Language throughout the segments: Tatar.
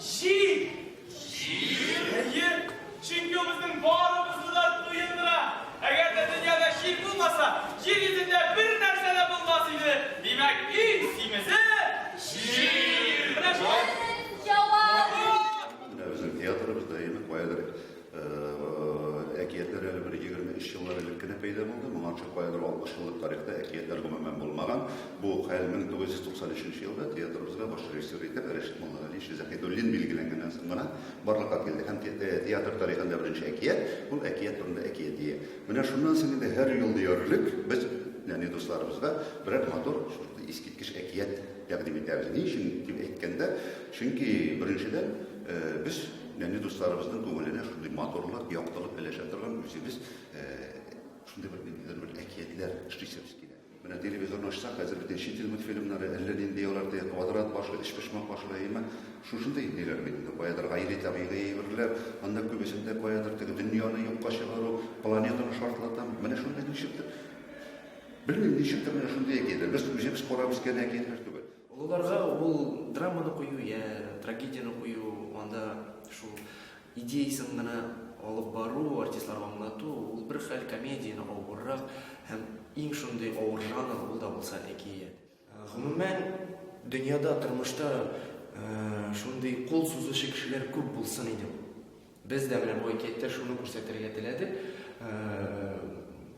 Җир! Җир? Әйе, чөнки ул безнең барыбызны да туендыра. Әгәр дә дөньяда җир булмаса, җир йөзендә бер нәрсә дә булмас иде. Димәк, иң симезе җир! Менә шулай. Безнең җавап! Менә безнең театрыбыз да, әйеме, каядыр Әкиятләр әле бер егерме өч еллар элек кенә пәйда булды. Моңарчы каядыр алтмыш еллык тарихта әкиятләр гомумән булмаган. Бу хәл 1993 елда театрыбызга баш режиссер итеп Рәшит Муллагалиевич Заһидуллин билгеләнгәннән соң гына барлыкка килде һәм театр тарихында беренче әкият ул әкият турында әкиятия. Менә шуннан соң инде һәр ел диярлек без нәни дусларыбызга берәр матур шундый искиткеч әкият тәкъдим итәбез. Ни өчен дип әйткәндә, чөнки беренчедән, Без нәни дусларыбызның күңеленә шундый матурлык, яктылык өләшә торган үзебез шундый бер ниндидер бер әкиятләр эшлисебез килә. Менә телевизорны ачсак, хәзер бит чит ил мультфильмнары, әллә нинди алар теге квадрат башлы, өчпочмак башлы, әйеме? Шушындый ниләр бит инде. Каядыр гайри табигый әйберләр, анда күбесендә каядыр теге дөньяны юкка чыгару, планетаны шартлатам. Менә шундый ничектер, белмим, ничектер менә шундый әкиятләр. Без үзебез карап үскән әкиятләр түгел. Олыларга ул драманы кую йә трагедияне кую, анда шул идеясен генә алып бару, артистларга аңлату, ул бер хәл, комедияне авыррак һәм иң шундый авыр жанр, ул да булса әкият. Гомумән, дөньяда, тормышта шундый кул сузучы кешеләр күп булсын иде. Без дә менә бу әкияттә шуны күрсәтергә теләдек.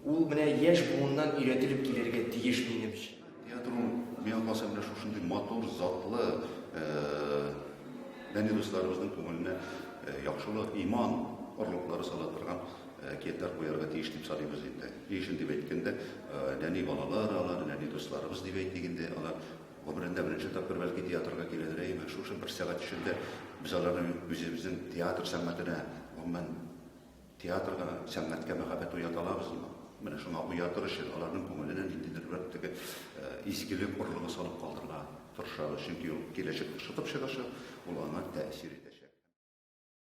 Ул менә яшь буыннан өйрәтелеп килергә тиеш минемчә. Театр ул, миңа калса, менә шушындый матур, затлы, дәни дусларыбызның күңеленә яхшылык, иман орлыклары сала торган әкиятләр куярга тиеш дип саныйбыз инде. Ни өчен дип әйткәндә, нәни балалар алар, нәни дусларыбыз дип әйтик инде, алар Гомерендә беренче тапкыр бәлки театрга киләдер, әйеме? Шушы бер сәгать эчендә без аларның үзебезнең театр сәнгатенә, гомумән, театрга, сәнгатькә мәхәббәт уята алабызмы? Менә шуңа уятыр өчен аларның күңеленә ниндидер бер теге изгелек орлыгы салып калдырырга тырышабыз, чөнки ул киләчәктә шытып чыгачак, ул аңа тәэсир итәчәк.